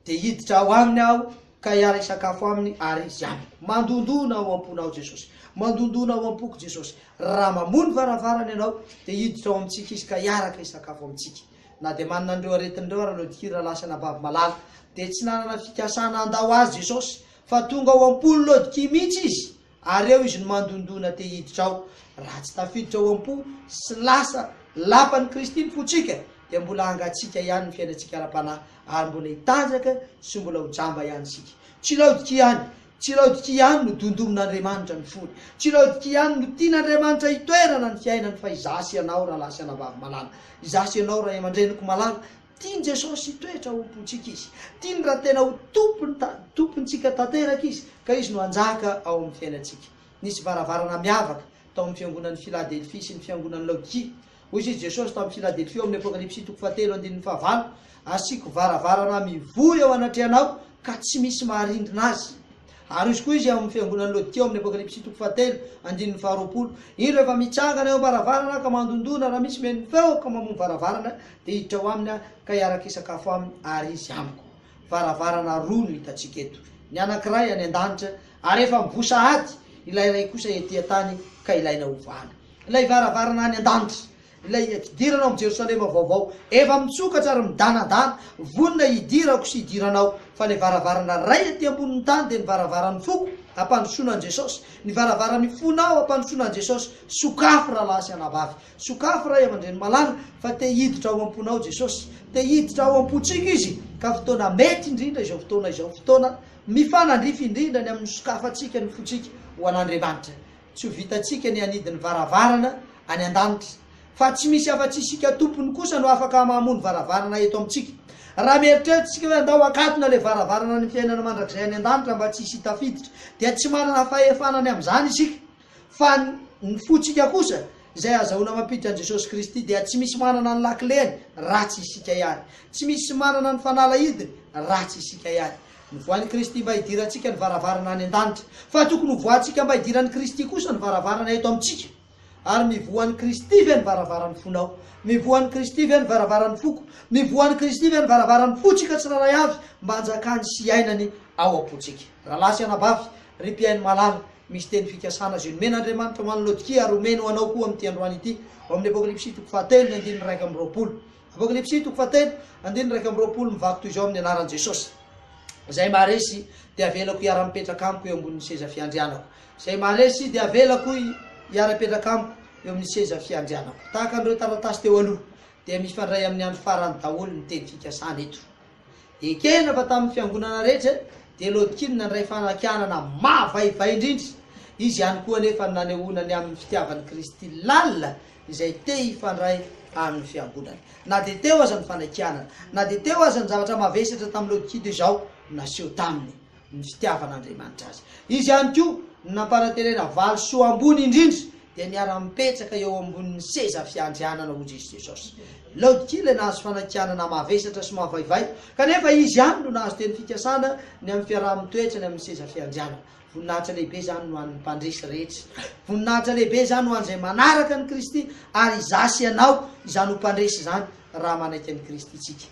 Dia hiditra ao aminy aho ka hiara-hisakafo aminy ary izy amiko. Mandondona ao am-pony aho Jesosy. Mandondona ao am-poko Jesosy. Raha mamoha ny varavarany ianao, dia hiditra ao amintsika izy ka hiaraka hisakafo amintsika. Na dia manana an'ireo aretiny ireo ary Lodky raha lasa anabavy malala, dia tsy nanana fikasana handao azy Jesosy, fa tonga ao am-pon'i Lodky mihitsy izy Ary eo izy no mandondona te hiditra ao. Raha tsy tafiditra ao am-po sy lasa lapan'i Kristy ny fontsika, dia mbola hangatsiaka ihany ny fiainantsika ara-panahy, ary mbola hitanjaka sy mbola ho jamba ihany isika. Tsy Laodikia ihany, tsy Laodikia ihany no dondomin'Andriamanitra ny fony, tsy Laodikia ihany no tian'Andriamanitra hitoerana ny fiainany fa izaho sy ianao rahalahy sy anabavy malala, izaho sy ianao ray aman-dreniko malala, Tian'i Jesosy hitoetra ho Tompontsika Izy. Tiany raha tena ho Tompony ta, Tompontsika tanteraka Izy, ka Izy no hanjaka ao amin'ny fiainantsika. Nisy varavarana miavaka tao amin'ny fiangonan'i Filadelfia sy ny fiangonan'i Laodikia. Hoy izy Jesosy tamin'i Filadelfia ao amin'ny Apokalypsy toko fahatelo andininy fahavalo, Asiako varavarana mivoy eo anatrehanao, ka tsy misy maharindrina azy. Aroso koa izy ao amin'ny fiangonan'i Laodikia ao amin'ny Apokalypsy toko fahatelo, andininy faharoapolo. Indro efa mitsangana eo am-baravarana aho ka mandondona, raha misy mihaino ny feoko ka mamoha ny varavarana, dia hiditra ao aminy aho ka hiaraka hisakafo aminy ary izy amiko. Varavarana roa no hitantsika eto, ny anankiray any an-danitra ary efa mivoha sahady, ilay iray kosa ety an-tany ka ilaina ovana. Ilay varavarana any an-danitra Ilay hidirana ao amin'ny Jerosalema vaovao efa mitsokatra ary midanadana, vonona hidirako sy hidirana ao. Fa ilay varavarana iray aty ambonin'ny tany dia ny varavaran'ny foko, hampandrosoana an'i Jesosy. Ny varavaran'ny fonao hampandrosoana an'i Jesosy. Sokafy rahalahy sy anabavy. Sokafy ray aman-dreny malala fa te hiditra ao am-ponao Jesosy. Te hiditra ao am-pontsika Izy ka fotoana mety indrindra izao fotoana izao, fotoana mifanandrify indrindra ny amin'ny fisokafantsika ny fontsika ho an'Andriamanitra. Tsy ho vitantsika ny hanidy ny varavarana any an-danitra, fa tsy misy afa-tsy isika tompony kosa no afaka mamoha ny varavarana eto amintsika. Raha mieritreritra isika hoe andao hakatona ilay varavarana ny fiainana mandrakizay any an-danitra mba tsy hisy tafiditra, dia tsy manana fahefana ny amin'izany isika. Fa ny fontsika kosa, izay azahoana mampiditra an'i Jesosy Kristy, dia tsy misy manana ny lakileny raha tsy isika ihany. Tsy misy manana ny fanalahidiny raha tsy isika ihany. Novohain'i Kristy mba hidirantsika ny varavarana any an-danitra. Fa tokony hovoahantsika mba hidiran'i Kristy kosa ny varavarana eto amintsika. Ary mivoha an'i Kristy ve ny varavaran'ny fonao? Mivoha an'i Kristy ve ny varavaran'ny foko? Mivoha an'i Kristy ve ny varavaran'ny fontsika tsirairay avy mba hanjakany sy hiainany ao am-pontsika? Rahalahy sy anabavy, ry mpihaino malala, misy teny fikasana izay nomen'Andriamanitra ho an'i Laodikia ary homeny ho anao koa amin'ity androany ity, ao amin'ny Apokalypsy toko fahatelo, ny andininy iraika amby roapolo. Apokalypsy toko fahatelo, andininy iraika amby roapolo, Mivaky toy izao amin'ny anaran'i Jesosy izay maharesy, dia avelako hiara-mipetraka amiko eo ambonin'ny seza fiandrianako. Izay maharesy dia avelako hiara-hipetraka amiko eo amin'ny seza fiandrianako. Tahaka an'ireo taratasy teo aloha, dia mifandray amin'ny andro farany daholo ny teny fikasana eto. Ekena fa tamin'ny fiangonana rehetra dia Lodkin nandray fanakianana mavaivay indrindra. Izy ihany koa anefa no nanehoana ny amin'ny fitiavan'i Kristy lalina izay te hifandray amin'ny fiangonany. Na dia teo aza ny fanakianana, na dia teo aza ny zavatra mavesatra tamin'i Lodkin izao naseho taminy. ny fitiavan'Andriamanitra azy. Izy ihany koa no nampanan-terena valo soa ambony indrindra dia niara-mipetraka eo ambonin'ny seza fiandrianana ho Jiosy Jesosy. Laodikia ilay nahazo fanakianana mavesatra sy mavaivay, kanefa izy ihany no nahazo teny fikasana ny amin'ny fiaraha-mitoetra ny amin'ny seza fiandrianana. Voninahitra lehibe izany no an'ny mpandresy rehetra. Voninahitra lehibe izany ho an'izay manaraka an'i Kristy, ary izaho sy ianao izany ho mpandresy izany raha manaiky an'i Kristy isika.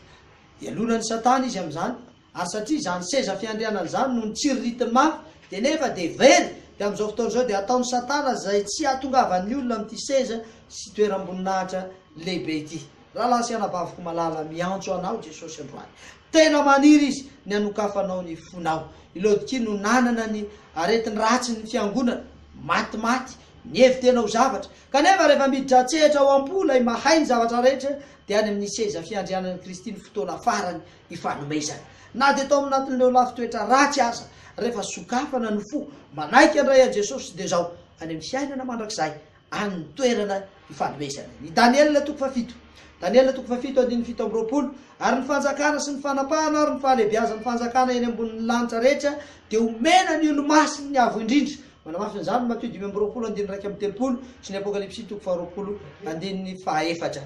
Hialona an'i Satana izy amin'izany. Ary satria izany seza fiandrianana izany no nitsiriritin'ny mafy, dia nefa dia very, dia amin'izao fotoana izao dia ataon'i Satana izay tsy hahatongavan'ny olona amin'ity seza sy toeram-boninahitra lehibe ity. Rahalahy sy anabaviko malala, miantso anao Jesosy androany. Tena maniry Izy ny hanokafanao ny fonao. I Laodikia no nanana ny aretin'ny ratsin'ny fiangonana, matimaty, nihevi-tena ho zavatra. Kanefa rehefa miditra an-tsehatra ao am-po ilay Mahay ny zavatra rehetra, dia any amin'ny seza fiandrianan'i Kristy ny fotoana farany ifanomezana. Na dia tao anatin'ireo lafin-toetra ratsy aza, rehefa sokafana ny fo, manaiky handray an'i Jesosy dia izao, any amin'ny fiainana mandrakizay, any ny toerana ifanomezana. I Daniela toko fahafito. Daniela toko fahafito andininy fito amby roapolo, Ary ny fanjakana sy ny fanapahana ary ny fahalehibiazan'ny fanjakana eny ambonin'ny lanitra rehetra dia homena ny olomasin'ny Avo Indrindra, Manamafy an'izany ny Matio dimy amby roapolo andininy iraika amby telopolo sy ny Apokalypsy toko faharoapolo andininy fahaefatra.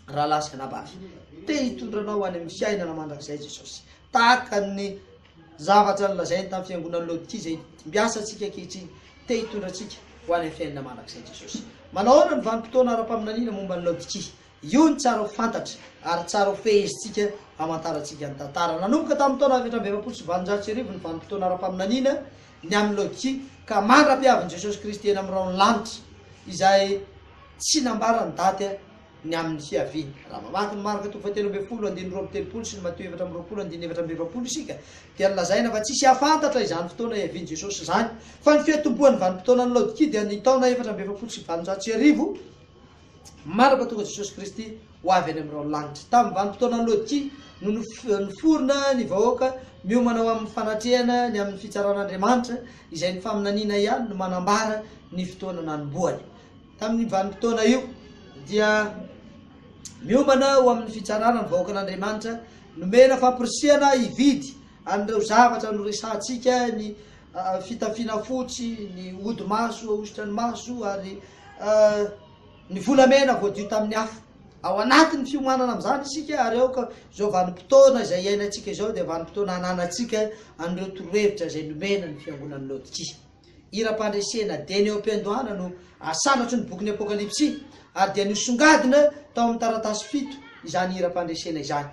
Rahalahy sy anabavy, te hitondra anao any amin'ny fiainana mandrakizay Jesosy. Tahaka ny zavatra nolazainy tamin'ny fiangonan'i Laodikia izay dimbiasa antsika ankehitriny, te hitondra antsika ho any amin'ny fiainana mandrakizay Jesosy. Manahoana ny vanim-potoana ara-paminaniana momba an'i Laodikia? Io no tsara ho fantatra ary tsara ho fehezintsika hamantarantsika ny tantara. Nanomboka tamin'ny taona efatra amby efapolo sy valonjato sy arivo ny vanim-potoana ara-paminaniana ny amin'ny logika ka mandra-piavin'i Jesosy Kristy eny amin'ny rahon'ny lanitra, izay tsy nambara ny daty ny amin'ny fiaviany. Raha mamaky ny Marka toko fahatelo ambin'ny folo andininy roa amby telopolo sy ny Matio efatra amby roapolo andininy efatra amby efapolo isika dia nolazaina fa tsisy hahafantatra izany fotoana hiavian'i Jesosy izany fa ny fiantombohan'ny vanim-potoanan'ny logika dia ny taona efatra amby efapolo sy valonjato sy arivo Manana Mpatonga Jesosy Kristy ho avy any amin'ireo lanitra. Tamin'ny vanim-potoana Lôtia no niforona ny vahoaka miomana ho amin'ny fanatrehana ny amin'ny fitsaran'Andriamanitra, izay ny faminaniana ihany no manambara ny fotoana nanombohany. Tamin'io vanim-potoana io dia miomana ho amin'ny fitsarana ny vahoakan'Andriamanitra, nomena famporisihana hividy an'ireo zavatra noresahantsika, ny fitafiana fotsy, ny odi-maso ahosotra ny maso ary ny volamena voadio tamin'ny afo. Ao anatin'ny fiomanana amin'izany isika ary aoka izao vanim-potoana izay iainantsika izao dia vanim-potoana hananantsika an'ireo torohevitra izay nomena ny fiangonan'i Laodikia. Hiram-pandresena dieny eo am-piandohana no asanatry ny bokin'ny Apokalypsy ary dia nosongadina tao amin'ny taratasy fito izany hiram-pandresena izany.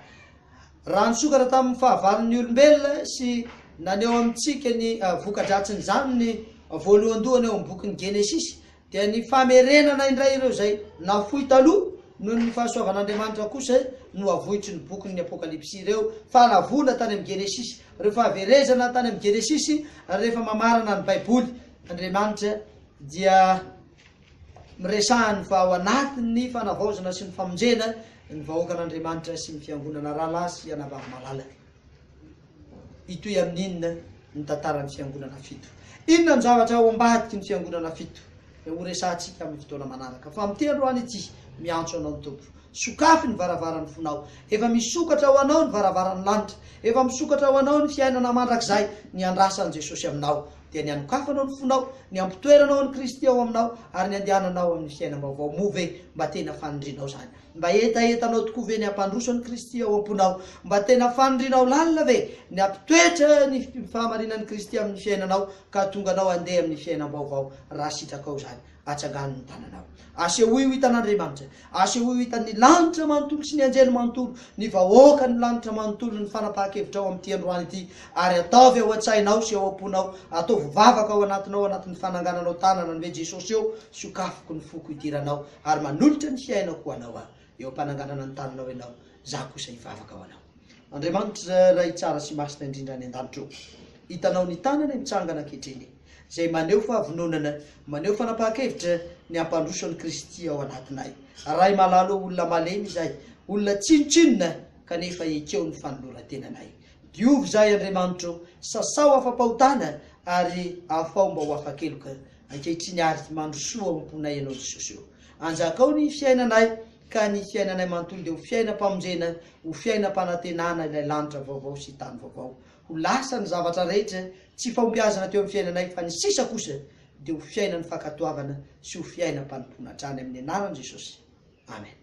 Raha nisokatra tamin'ny fahavalon'ny olombelona sy naneho amintsika ny voka-dratsin'izany ny voalohandohany ao amin'ny bokin'ny Genesisy, dia ny famerenana indray ireo izay nafoy taloha noho ny fahasoavan'Andriamanitra kosa no avoitry ny bokin'ny Apokalypsy. Ireo fahalavoana tany amin'ny Genesisy, ireo fahaverezana tany amin'ny Genesisy, rehefa mamarana ny Baiboly, Andriamanitra dia. Miresahany fa ao anatin'ny fanavaozana sy ny famonjena ny vahoakan'Andriamanitra sy ny fiangonana rahalahy sy anabavy malalany. Hitohy amin'inona ny tantaran'ny fiangonana fito? Inona ny zavatra ao ambadiky ny fiangonana fito? Dia horesahantsika amin'ny fotoana manaraka. Fa miteny androany ity, miantso anao ny Tompo. Sokafy ny varavaran'ny fonao. Efa misokatra ho anao ny varavaran'ny lanitra. Efa misokatra ho anao ny fiainana mandrakizay niandrasan'i Jesosy aminao. dia ny hanokafanao ny fonao, ny hampitoeranao an'i Kristy ao aminao ary ny handehananao amin'ny fiainam-baovao. Moa ve mba tena fanindrianao izany? Mba hetahetanao tokoa ve ny hampandroso an'i Kristy ao am-ponao? Mba tena fanindrianao lalina ve ny hampitoetra ny fahamarinan'i Kristy amin'ny fiainanao ka hahatonga anao handeha amin'ny fiainam-baovao raha sitrakao izany? Atsangano ny tananao. Asehoy ho hitan'Andriamanitra. Asehoy ho hitan'ny lanitra manontolo sy ny anjely manontolo, ny vahoakan'ny lanitra manontolo ny fanapahan-kevitrao amin'ity androany ity, ary ataovy ao an-tsainao sy ao am-ponao, ataovy vavaka ao anatinao anatin'ny fanangananao tanana ny hoe Jesosy ô, sokafiko ny foko idiranao ary manolotra ny fiainako ho Anao aho. Eo am-pananganana ny tananao ianao, izaho kosa hivavaka ho Anao. Andriamanitra Ray tsara sy masina indrindra any an-danitra ô, hitanao ny tanana mitsangana ankehitriny. izay maneho fahavononana, maneho fanapahan-kevitra ny hampandroso an'i Kristy ao anatinay. Ray malalo ô, olona malemy izahay, olona tsinontsinona kanefa ekeo ny fanoloran-tenanay. Diovy izahay Andriamanitro, sasao afa-pahotana ary afao mba ho afa-keloka ankehitriny ary mandrosoa ao am-ponay Ianao Jesosy ô. Anjakao ny fiainanay ka ny fiainanay manontolo dia ho fiainam-pamonjena, ho fiainam-panantenana ilay lanitra vaovao sy tany vaovao. Ho lasa ny zavatra rehetra tsy fahombiazana teo amin'ny fiainanay fa ny sisa kosa dia ho fiainan'ny fankatoavana sy ho fiainam-panompoana hatrany amin'ny anaran'i Jesosy. Amen.